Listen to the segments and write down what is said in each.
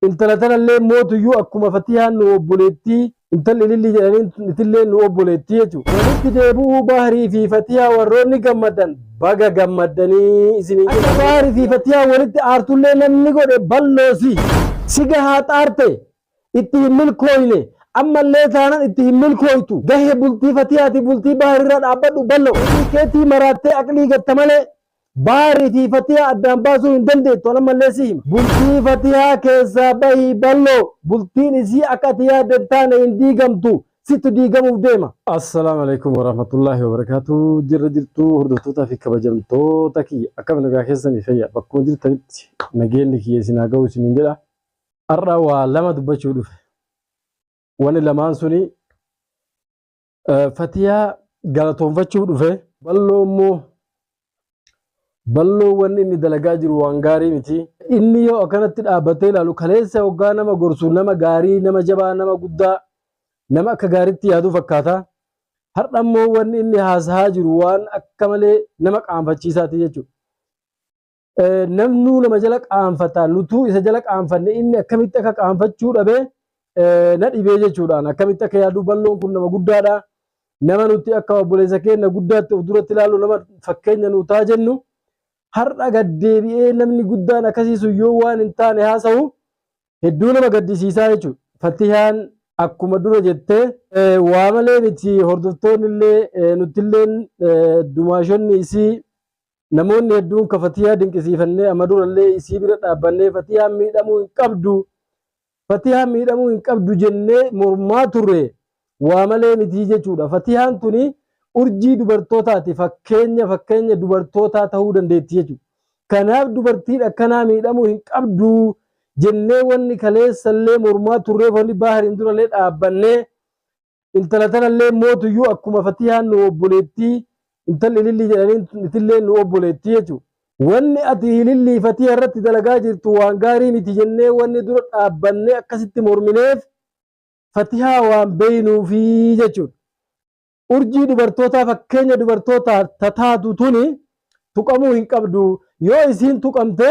Intala tanallee mootuyyuu akkuma Fatiyaan nu obboleettii, intalli Ilillii jedhaniin tillee nu obboleettii jechu. Walitti deebi'uu Bahrii fi Fatiyaa warroonni gammaddan baga gammaddanii isiniin jenna. Akka Bahri fi Fatiyaa walitti aartullee namni godhe balloosi. Si gahaa xaarte, itti hin milkooyne, ammallee taanan itti hin milkooytu. Gahe bultii Fatiyaati bultii Bahri irra dhaabbadhu ballo. Ofii keetii maraattee aqlii gatta malee Bahari fi Fatiha addaan baasuu hin dandeettu an ammallee si hima. Bultii Fatihaa keessaa bahi ballo bultiin isii akka ati yaadde hin taane hin diigamtu sittu diigamuuf deema. Assalaamu Aleykum Warahmatullaahi Wabarakaatuh Jirra jirtu hordoftootaa fi kabajamtoota kiyya akkam nagaa keessanii fayyaa bakkuma jirtanitti nageenyi kiyya isin haa ga'u isiniin jedha har'a waa lama dubbachuu dhufe wani lamaan suni Eh, Fatiyaa galatoonfachuuf dhufe. Balloo immoo balloo wanni inni dalagaa jiru waan gaarii miti. Inni yoo akkanatti dhaabbatee ilaalu kaleessa hoggaa nama gorsu nama gaarii, nama jabaa, nama guddaa, nama akka gaariitti yaadu fakkaata. Har'a immoo wanni inni haasahaa jiru waan akka malee nama qaanfachiisaati jechuudha. Namnuu nama jala qaanfata nutuu isa jala qaanfanne inni akkamitti akka qaanfachuu dhabe na dhibee jechuudhaan akkamitti akka yaaduu balloon kun nama guddaadha. Nama nuti akka obboleessa keenya guddaatti of duratti ilaallu nama fakkeenya nuu ta'a jennu har'a gaddeebi'ee namni guddaan akkasii sun yoo waan hin taane haasa'u hedduu nama gaddisiisaa jechuudha. Fatihaan akkuma dura jettee waa malee miti hordoftoonni illee nuti illee dumaashonni isii Namoonni hedduun ka Fatiyaa dinqisiifannee amma durallee isii bira dhaabbannee Fatiyaan miidhamuu hin qabdu, Fatiyaan miidhamuu hin qabdu jennee mormaa turre waa malee mitii jechuudha. Fatiyaan tuni urjii dubartootaati, fakkeenya fakkeenya dubartootaa ta'uu dandeetti jechuudha. Kanaaf dubartiin akkanaa miidhamuu hin qabdu jennee wanni kaleessallee mormaa turreef wanni baahariin durallee dhaabbannee intala tanallee mootuyyuu akkuma fatihaan nu obboleettii intalli ilillii jedhanii itillee nu obboleettii jechuudha. Wanni ati ilillii fatiha irratti dalagaa jirtu waan gaarii miti jennee wanni dura dhaabbannee akkasitti mormineef fatihaa waan beeynuufi jechuudha. Urjii dubartootaa fakkeenya dubartootaa tataatu tuni tuqamuu hin qabdu. Yoo isiin tuqamte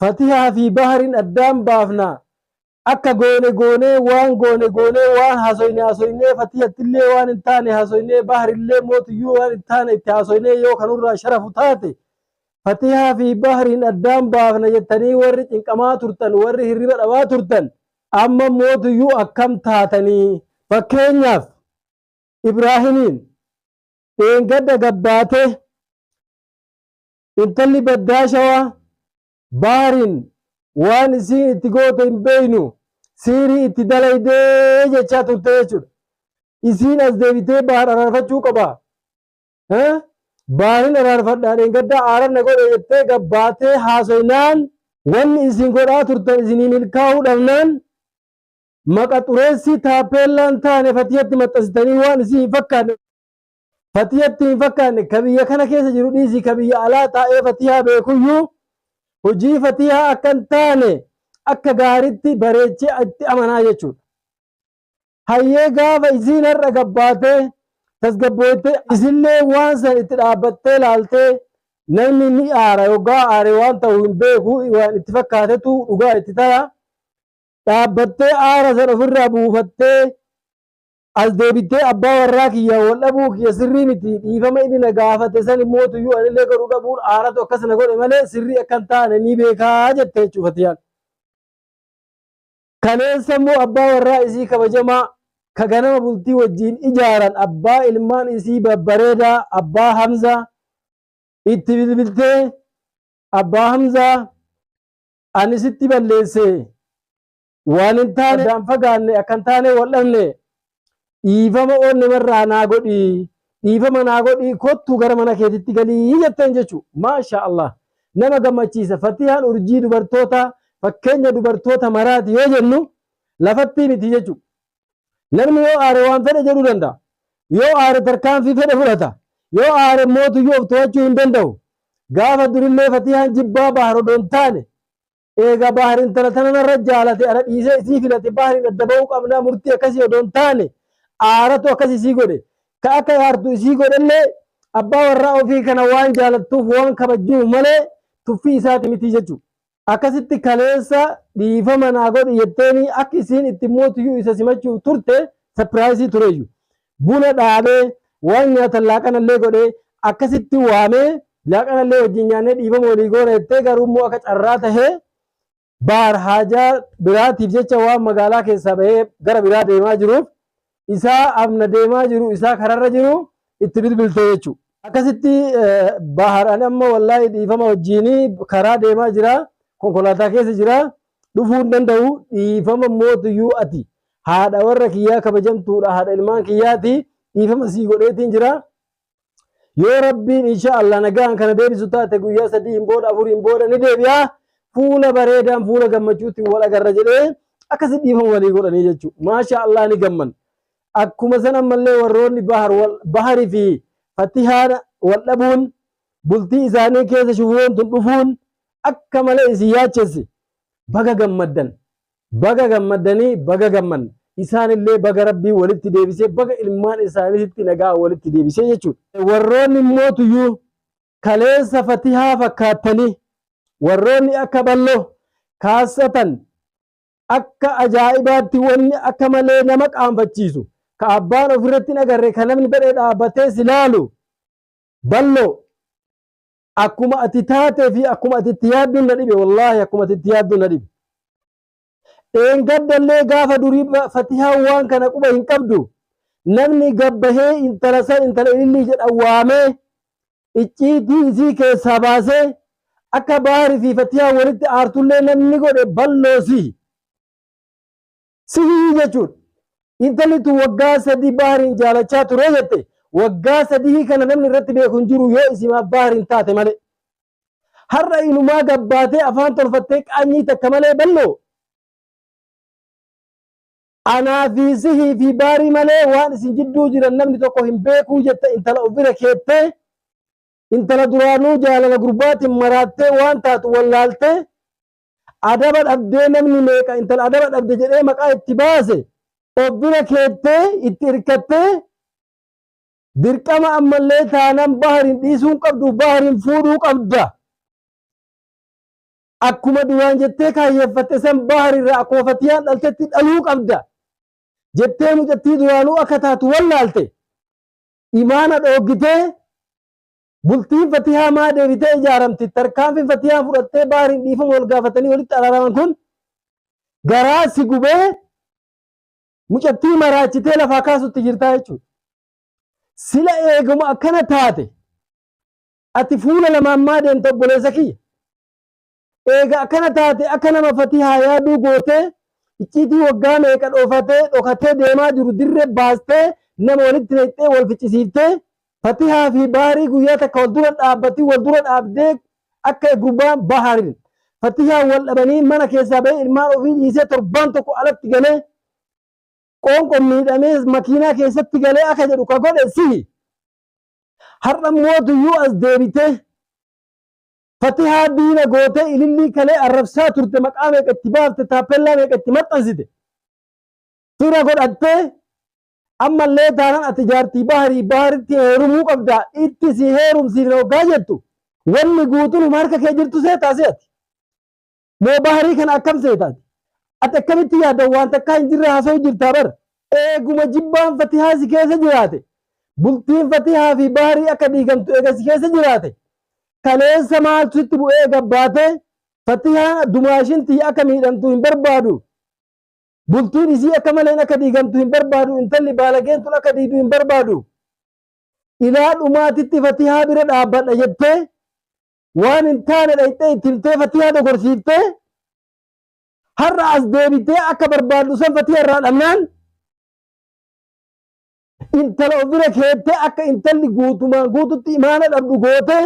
Fatihaa fi Bahrin addaan baafna. Akka goone goonee waan goone goonee waan haasoyne haasoynee Fatihattillee waan hin taane haasoynee Bahrillee mootuyyuu waan hin taane itti haasoynee yoo ka nurraa sharafu taate Fatihaa fi Bahrin addaan baafna jettanii warri cinqamaa turtan warri hirriba dhabaa turtan amma mootuyyuu akkam taatanii. Fakkeenyaaf Ibraahimiin dheengadda gabbaatee Intalli baddaa shawaa baariin waan isiin itti goote hin beeynu siirii itti dalaydee jechaa turte jechuudha. Isiin as deebitee baar araarfachuu qaba. Baarin araarfadhaa dheengaddaa aaran na godhe jettee gabbaatee haasoynaan wanni isin godhaa turtan isinii milkaa'uu dhabnaan maqa xureessii taappeellaan taane fatiyatti maxxansitanii waan isii hin fakkaanne Fatiyatti hin fakkaanne ka biyya kana keessa jiru dhiisii ka biyya alaa taa'ee fatiyaa beekuyyuu hojii fatiyaa akka hin taane akka gaaritti bareechee itti amanaa jechuudha. Hayyee gaafa isiin har'a gabbaatee tasgabbooytee isillee waan san itti dhaabbattee laaltee namni ni aara yoggaa aare waan ta'u hin beeku waan itti fakkaatetu dhugaa itti taya dhaabbattee aara san ofirraa buufattee As deebittee abbaa warraa kiyyaan wal dhabuu kiyya sirrii miti, dhiifama inni na gaafate san immoo tuyyuu anillee godhuu dhabuun aaratu akkas na godhe malee sirrii akka hin taane ni beeka jette jechuun Fatiyaan. Kaleessa immoo abbaa warraa isii kabajamaa ka ganama bultii wajjiin ijaaran abbaa ilmaan isii babbareedaa abbaa Hamzaa itti bilbiltee abbaa Hamzaa ani sitti balleesse Waan hin taane addaan fagaanne akka hin taane wal dhabne. Dhiifama oonne marraa naa godhii. Dhiifama naa godhii kottu gara mana keetitti galii jetteen jechuudha. Maashaa Allah. Nama gammachiisa. Fatihaan urjii dubartootaa fakkeenya dubartoota maraati yoo jennu lafattii miti jechuudha. Namni yoo aare waan fedhe jedhuu danda'a. Yoo aare tarkaanfii fedhe fudhata. Yoo aare mootuyyuu of to'achuu hin danda'u. Gaafa durillee fatihaan jibbaa baharodoo hin taane. Eega Bahar intala tana narra jaalate ana dhiisee isii filate Bahariin adda bahuu qabnaa murtii akkasii odoo hin taane aaratu akkas isii godhe. Ka akka aartu isii godhellee abbaa warraa ofii kana waan jaalattuuf waan kabajjuuf malee tuffii isaati mitii jechu. Akkasitti kaleessa dhiifama naa godhi jetteenii akka isiin itti mootuyyuu isa simachuuf turte sapiraayisii tureeyyu. buna dhaabee waan nyaatan laaqanallee godhee akkasitti waamee laaqanallee wajjin nyaannee dhiifama walii goona jettee garuu immoo akka carraa tahee baar haajaa biraatiif jecha waan magaalaa keessaa bahee gara biraa deemaa jiruuf isaa amna deemaa jiru isaa kararra jiru itti bilbiltee jechuudha. Akkasitti bahar ani amma wallaahi dhiifama wajjiin karaa deemaa jira konkolaataa keessa jira dhufuu hin danda'u dhiifama mootuyyuu ati haadha warra kiyyaa kabajamtuudha haadha ilmaan kiyyaati dhiifama sii godheetiin jira yoo rabbiin insha Allah nagaan kana deebisu taate guyyaa sadiin booda afuriin booda ni deebi'a fuula bareedaan fuula gammachuutti wal agarra jedhee akkasi dhiifama walii godhanii jechuudha maasha Allah ni gamman akkuma san ammallee warroonni bahar wal bahari fi fatihaan wal dhabuun bultii isaanii keessa shufuroon tun dhufuun akka malee isin yaachessi baga gammaddan baga gammaddanii baga gammanne isaanillee baga rabbii walitti deebisee baga ilmaan isaaniitti nagaa walitti deebisee jechuudha. Warroonni immoo tuyyuu kaleessa fatihaa fakkaattanii warroonni akka balloo kaassatan akka ajaa'ibaatti wanni akka malee nama qaanfachiisu ka abbaan ofirratti hin agarre ka namni badhee dhaabbatee si laalu Balloo akkuma ati taatee fi akkuma ati itti yaadduun na dhibe wallaahi akkuma ati itti yaadduun na dhibe. Dheengaddallee gaafa durii ba- fatihaa waan kana quba hin qabdu namni gabbahee intala san intala ilillii jedha waamee icciitii isii keessaa baasee akka baarii fi fatihaa walitti aartullee namni godhe balloosi. Sihii jechuun intalli tun waggaa sadii Bahariin jaalachaa ture jette waggaa sadii kana namni irratti beeku hin jiru yoo isimaa Bahariin taate malee. Har'a inumaa gabbaatee afaan tolfattee qaanyii takka malee balloo. Anaa fi sihii fi baarii malee waan isin jidduu jiran namni tokko hin beekuu jette intala of bira keettee intala duraanuu jaalala gurbaatiin maraattee waan taatu wallaaltee Adaba dhabdee namni meeqa intala adaba dhabde jedhee maqaa itti baase of bira keettee itti irkattee dirqama ammallee taanan bahariin dhiisuun qabdu bahariin fuudhuu qabda. Akkuma duraan jettee kaayyeeffatte san baharirraa akkuma fatiyaan dhaltetti dhaluu qabda. Jettee mucattii duraanuu akka taatu wallaalte imaana dhooggitee Bultiin Fatihaa maa deebitee ijaaramti? Tarkaanfiin Fatihaa fudhattee Bahriin dhiifama wal gaafatanii walitti araaraman kun garaa si gubee mucattii maraachitee lafaa kaasutti jirtaa jechuudha. Sila eeguma akkana taate ati fuula lamaan maa deemta obboleessa kiyya? Eega akkana taate akka nama fatihaa yaaduu gootee icciitii waggaa meeqa dhoofatee dhokatee deemaa jiru dirre baastee nama walitti naqxee wal ficcisiiftee fatihaa fi baarii guyyaa takka wal dura dhaabbatii wal dura dhaabdee akka gurbaan baharin fatihaa wal dhabanii mana keessaa bahee ilmaan ofii dhiisee torbaan tokko alatti galee qoonqoon miidhamee makiinaa keessatti galee akka jedhu ka godhe sihi har'a mootuyyuu as deebitee Fatihaa diina gootee ilillii kalee arrabsaa turte maqaa meeqa itti baafte taappellaa meeqa itti maxxansite fira godhattee ammallee taanan ati jaartii baharii baharitti heerumuu qabdaa itti si heerumsiifna hoggaa jettu wanni guutuun huma harka kee jirtu seetaa seeti. Moo Bahrii kana akkam seeta ati? Ati akkamitti yaadda waan takkaa hin jirre haasa'u jirtaa bar? Eeguma jibbaan Fatihaa si keessa jiraate, bultiin Fatihaa fi Bahrii akka diigamtu eega si keessa jiraate, kaleessa maaltu sitti bu'ee gabbaatee Fatihaan dumaashin tiyya akka miidhamtu hin barbaadu. Bultiin isii akka maleen akka diigamtu hin barbaadu. Intalli baalageen tun akka diidu hin barbaadu. Ilaa dhumaatitti Fatihaa bira dhaabbadha jettee waan hin taane dhayxee itti himtee fatihaa dogorsiiftee har'a as deebitee akka barbaaddu san fatiha irraa dhabnaan intala ofira keettee akka intalli guutumaan guututti imaana dhabdu gootee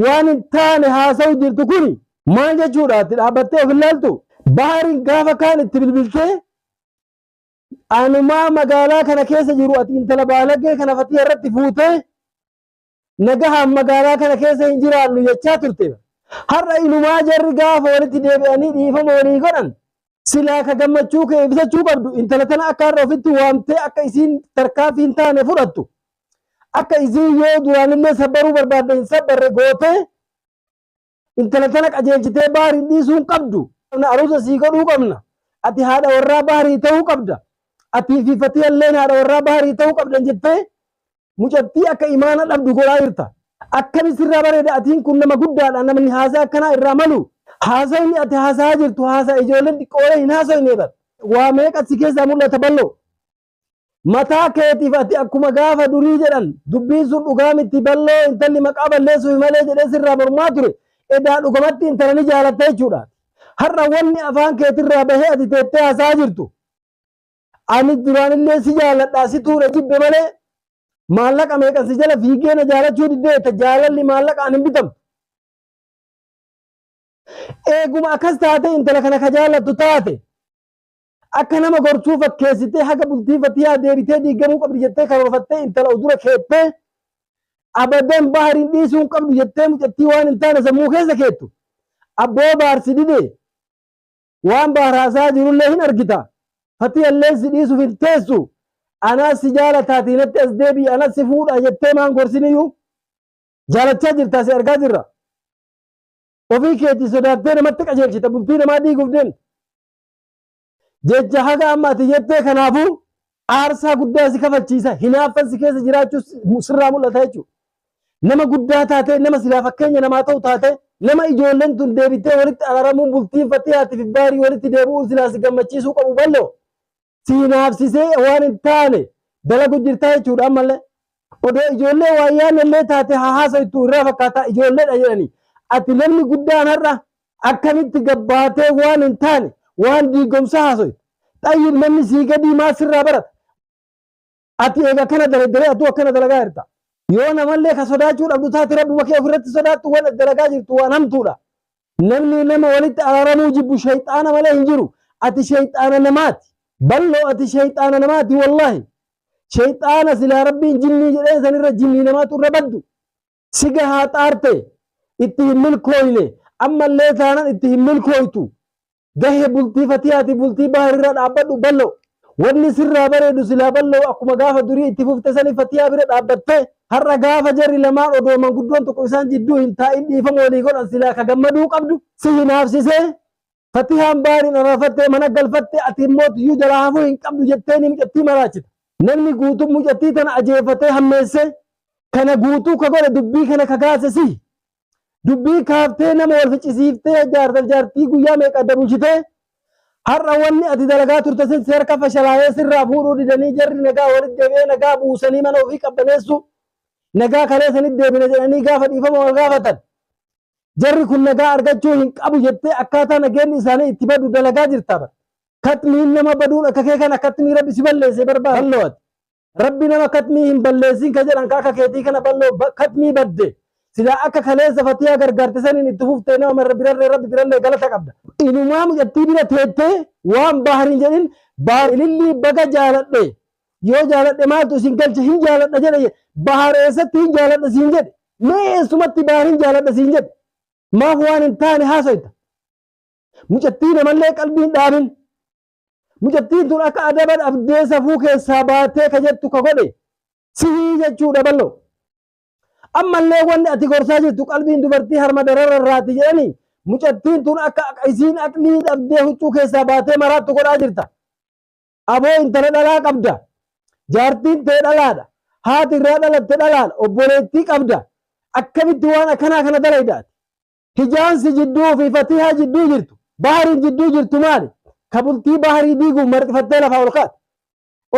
waan hin taane haasa'u jirtu kuni maal jechuudha itti dhaabbattee of ilaaltu baariin gaafa kaan itti bilbiltee anumaa magaalaa kana keessa jiru ati intala baalagee kana fatiha irratti fuutee nagahaan magaalaa kana keessa hin jiraannu jechaa turte bar. Har'a inumaa jarri gaafa walitti deebi'anii dhiifama walii godhan silaa ka gammachuu kee ibsachuu qabdu intala tana akka har'a ofitti waamtee akka isiin tarkaanfii hin taane fudhattu akka isiin yoo duraanillee sabbaruu barbaadde hin sabbarre gootee Intala tana qajeelchitee Bahriin dhiisuu hin qabdu. Aruuza sii godhuu qabna. Ati haadha warraa Bahrii ta'uu qabda. Atii fi Fatiyalleen haadha warraa Bahrii ta'uu qabdan jettee mucattii akka imaana dhabdu godhaa jirta. Akkami sirraa bareeda atiin kun nama guddaadha namni haasaa akkanaa irraa malu. Haasawni ati haasahaa jirtu haasaa ijoolleen xiqqoolee hin haasoyne bar. Waa meeqa si keessaa mul'ata balloo. Mataa keetiif ati akkuma gaafa durii jedhan dubbiin sun dhugaa miti balloo intalli maqaa balleessuuf malee jedhee sirraa mormaa ture edaa dhugamatti intala ni jaalatta jechuudha. Har'a wanni afaan keetirraa bahee ati teettee hasaa jirtu ani duraanillee si jaaladhaa situu na jibbe malee maallaqa meeqan si jala fiigee na jaalachuu diddee jetta jaalalli maallaqaan hin bitamtu. Eeguma akkas taatee intala kana ka jaallattu taate Akka nama gortuu fakkeessitee haga bultii Fatiyaa deebitee diigamuu qabdi jettee karoorfattee intala of dura keettee abadan Bahariin dhiisuu hin qabdu jettee mucattii waan hin taane sammuu keessa keettu abboo Bahar si dide waan Bahar haasaa jirullee hin argita Fatiyallee si dhiisuuf hin teessu anaas si jaalataatii natti as deebi'i anas si fuudha jettee maan gorsiniyyuu jaalachaa jirtaa si argaa jirra ofii keetii sodaattee namatti qajeelchita bultii namaa diiguuf deemta Jecha haga amma ati jettee kanaafuu aarsaa guddaa si kafalchiisa. Hinaaffan si keessa jiraachuu sirraa mul'ata jechuudha. Nama guddaa taatee, nama silaa fakkeenya namaa ta'u taatee, nama ijoolleen tun deebittee walitti araramuun bultiin Fatiyaatii fi Baarii walitti deebi'uun silaa si gammachiisuu qabu bal'oo si hinaafsisee waan hin taane dalagu jirtaa jechuudha ammallee. Odoo ijoollee waa yaanne illee taate haa haasoytu irraa fakkaataa ijoolleedha jedhanii. Ati namni guddaan har'a Akkamitti gabbaatee waan hin taane waan diigomsaa haasoyta. Xayyib namni sii gadii maa sirraa barata? Ati eega akkana daleddalee atuu akkana dalagaa jirta. Yoo namallee ka sodaachuu dhabdu taate rabbuma kee ofirratti sodaattu waan ati dalagaa jirtu waan hamtuudha. Namni nama walitti araaramuu jibbu shayxaana malee hin jiru. Ati shayxaana namaati. Balloo ati shayxaana namaati wallaahi. Shayxaana silaa rabbiin jinnii jedheen sanirra jinnii namaatu irra baddu. Si gahaa xaarte itti hin milkooyne ammallee taanan itti hin milkooytu. Gahe bultii fatiyaati bultii baharirra dhaabbadhu ballo. Wanni sirraa bareedu silaa ballo akkuma gaafa durii itti fufte sani fatiyaa bira dhaabbatte. Har'a gaafa jarri lamaan odoo manguddoon tokko isaan jidduu hin taa'in dhiifama walii godhan silaa ka gammaduu qabdu si hinaafsisee Fatihaan baariin araafattee mana galfatte ati immoo tiyyuu jalaa hafuu hin qabdu jettee ni mucattii maraachita. Namni guutuu mucattii tana ajeefatee hammeessee kana guutuu ka godhe dubbii kana ka kaase si. Dubbii kaaftee nama wal ficcisiiftee jaartaf jaartii guyyaa meeqa adda bulchitee har'a wanni ati dalagaa turte sin si harka fashalaayee sirraa fuudhuu didanii jarri nagaa walitti deebi'ee nagaa buusanii mana ofii qabbaneessuu nagaa kalee sanitti deebina jedhanii gaafa dhiifama wal gaafatan. Jarri kun nagaa argachuu hin qabu jettee akkaataa nageenni isaanii itti badu dalagaa jirta bar. Katmiin nama baduun akka kee kana katmii rabbi si balleessee barbaa balloo ati. Rabbi nama katmii hin balleessiin ka jedhan ka akka keetii kana balloo ba- katmii badde. Silaa akka kaleessa fatiyaa gargaarte saniin itti fuftee nama marra birarree rabbi birallee galata qabda. Inumaa mucattii bira teettee waan baahar hin jedhin baahar ilillii baga jaaladhe Yoo jaaladhe maaltu isin galche hin jaaladha jedhe jedhe. Bahar eessatti hin jaaladha siin jedhe? Mee eessumatti Bahar hin jaaladha siin jedhe? Maaf waan hin taane haasayta? Mucattii namallee qalbiin dhaabin. Mucattiin tun akka adaba dhabdee safuu keessaa baatee ka jettu ka godhe sihii jechuudha ballo. Ammallee wanni ati gorsaa jirtu qalbiin dubartii harma darara irraati jedhanii mucattiin tun akka isiin aqlii dhabdee huccuu keessaa baatee maraattu godhaa jirta. Aboo intala dhalaa qabda. Jaartiin tee dhalaadha. Haati irraa dhalatte dhalaadha. Obboleettii qabda. Akkamitti waan akkanaa kana dalayda ati? Hijaan si jidduu fi Fatihaa jidduu jirtu, Bahariin jidduu jirtu maali? Ka bultii Baharii diiguuf marxifattee lafaa ol kaate.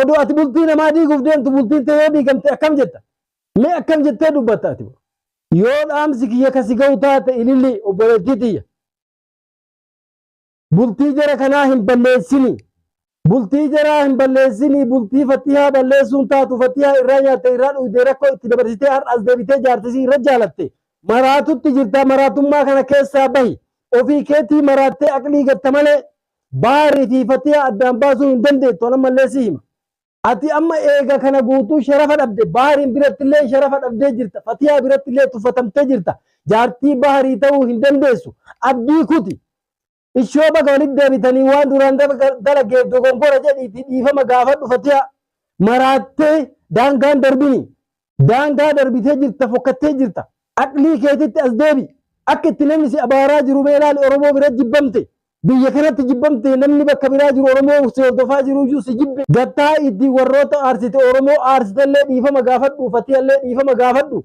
Odoo ati bultii namaa diiguuf deemtu bultiin tee yoo diigamte akkam jetta? Mee akkam jettee dubbatta ati? Yoo dhaamsi kiyya ka si gahu taate ililli obboleettii tiyya. Bultii jara kanaa hin balleessini. Bultii jaraa hin balleessini. Bultii fattihaa balleessuun taatu fattihaa irraa nyaatte irraa dhugdee rakkoo itti dabarsitee har'a as deebitee jaartisii irra jaalatte. Maraatutti jirtaa maraatummaa kana keessaa bahi. Ofii keetii maraattee aqlii gatta malee baari fi fattihaa addaan baasuu hin dandeettu. An ammallee si hima. Ati amma eega kana guutuu sharafa dhabde Bahariin birattillee sharafa dhabdee jirta Fatiyaa birattillee tuffatamtee jirta jaartii Baharii ta'uu hin dandeessu abdii kuti ishoo baga walitti deebitanii waan duraan dalageef dogongora jedhiitii dhiifama gaafadhu Fatiyaa maraattee daangaan darbini Daangaa darbitee jirta fokkattee jirta. Aqlii keetitti as deebi. Akka itti namni si abaaraa jiru mee ilaali Oromoo bira jibbamte. Biyya kanatti jibbamte namni bakka biraa jiru Oromoo si hordofaa jiru iyyuu si jibbe. Gattaa itti warroota aarsite Oromoo aarsitellee dhiifama gaafadhu Fatiyallee dhiifama gaafadhu.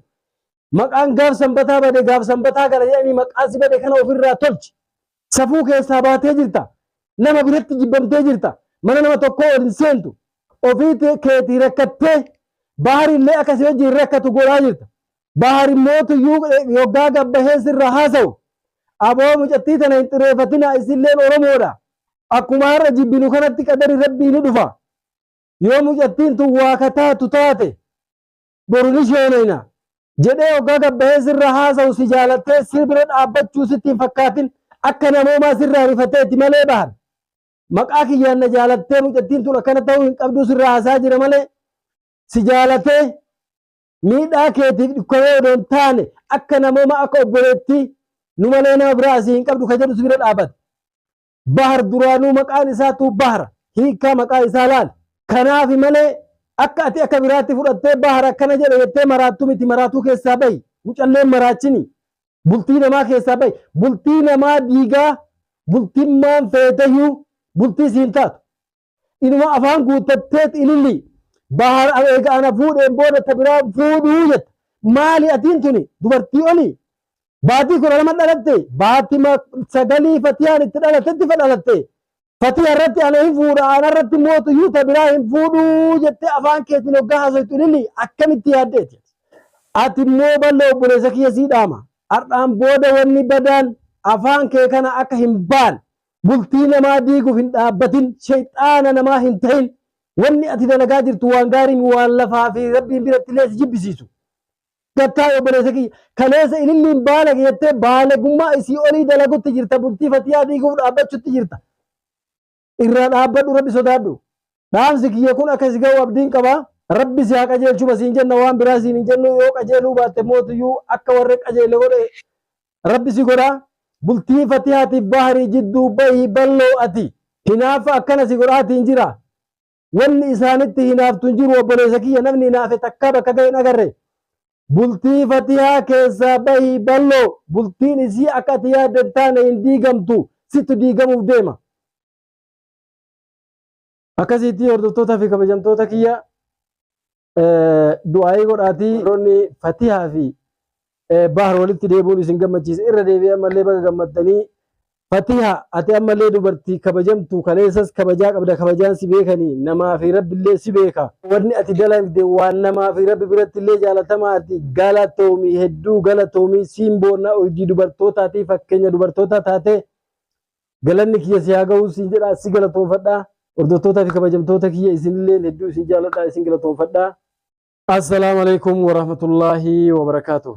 Maqaan gaaf sanbataa bade gaaf sanbataa gala jedhanii maqaa si bade kana ofirraa tolchi. Safuu keessaa baatee jirta. Nama biratti jibbamtee jirta. Mana nama tokkoo ol hin seentu. Ofii keetii rakkattee Bahar illee akka si wajjin rakkatu godhaa jirta. Bahar immoo tuyyuu yoggaa gabbahee sirraa haasawu. Aboo mucattii tana hin xireeffatinaa isilleen Oromoodha. Akkuma har'a jibbinu kanatti qadari Rabbii ni dhufa. Yoo mucattiin tun waa ka taatu taate boru ni sheenayna jedhee hoggaa gabbahee sirra haasawu si jaalattee si bira dhaabbachuu sitti hin fakkaatin akka namoomaa sirraa rifateeti malee bahar maqaa kiyyaan na jaalattee mucattiin tun akkana ta'uu hin qabduu sirraa haasaa jira malee si jaalatee miidhaa keetiif dhukkanee odoo hin taane akka namooma akka obboleettii nu malee nama biraa asii hin qabdu ka jedhu si bira dhaabbate. Bahar duraanuu maqaan isaatuu Bahra. Hiikkaa maqaa isaa laali. Kanaafi malee akka ati akka biraatti fudhattee Bahar akkana jedhe jettee maraattu miti maraatuu keessaa bahi. Mucalleen maraachini. Bultii namaa keessaa bahi. Bultii namaa diigaa bultimmaan feeteyyuu bultii siin taatu. Inuma afaan guuttatteet ililli. Bahar eega ana fuudheen booda ta biraa fuudhuu jetta. Maali atiin tuni dubartii oli? Baatii kudha lama dhalatte. Baatima sagalii Fatiyaan itti dhalatetti fa dhalatte. Fatiya irratti ana hin fuudha ana irratti mootu iyyuu ta biraa hin fuudhuu jettee afaan keetiin hoggaa haasoytu ililli akkamitti yaaddeeti? Ati immoo ballo obboleessa kiyya sii dhaama. Har'aan booda wanni badaan afaan kee kana akka hin baane Bultii namaa diiguf hin dhaabbatin, sheyxaana namaa hin tahin. Wanni ati dalagaa jirtu waan gaarii mi waan lafaa fi Rabbiin birattillee si jibbisiisu. Gattaawe obboleessa kiyya, kaleessa ililliin baalage jettee baalagummaa isii olii dalagutti jirta, bultii fatiyaa diiguuf dhaabbachutti jirta. Irraa dhaabbadhu Rabbi sodaadhu. Dhaamsi kiyya kun akka si ga'u abdiin qaba. Rabbi si haa qajeelchuma siin jenna waan biraa siin hin jennu yoo qajeeluu baatte mootuyyuu akka warri qajeelle godhe Rabbi si godhaa bultii fatihaatiif baharii jidduu bahi balloo ati hinaafa akkana si godhaatiin jira wanni isaanitti hinaaftu hin jiru obboleessa kiyya namni hinaafe takkaa bakka ga'e hin agarre bultii fatihaa keessaa bahi balloo bultiin isii akka ati yaadde hin taane hin diigamtu sittu diigamuuf deema akkasiitti hordoftoota fi kabajamtoota kiyya du'aayii godhaatii warroonni fatihaa fi bahar walitti deebi'uun isin gammachiise irra deebi'ee ammallee baga gammaddanii fatiha ati ammallee dubartii kabajamtu kaleessas kabajaa qabda kabajaan si beekanii namaa fi rabbillee si beeka wanni ati dalagde waan namaa fi rabbi biratti illee jaalatamaa ati galatoomii hedduu galatoomii siin boonnaa urjii dubartootaatii fakkeenya dubartootaa taatee Galanni kiyya si haa ga'u siin jedha si galatoonfadha. Hordoftootaa fi kabajamtoota kiyya isinilleen hedduu isin jaaladha isin galatoonfadha. Assalaamu alaikum warahmatullaahi wabarakaatuh.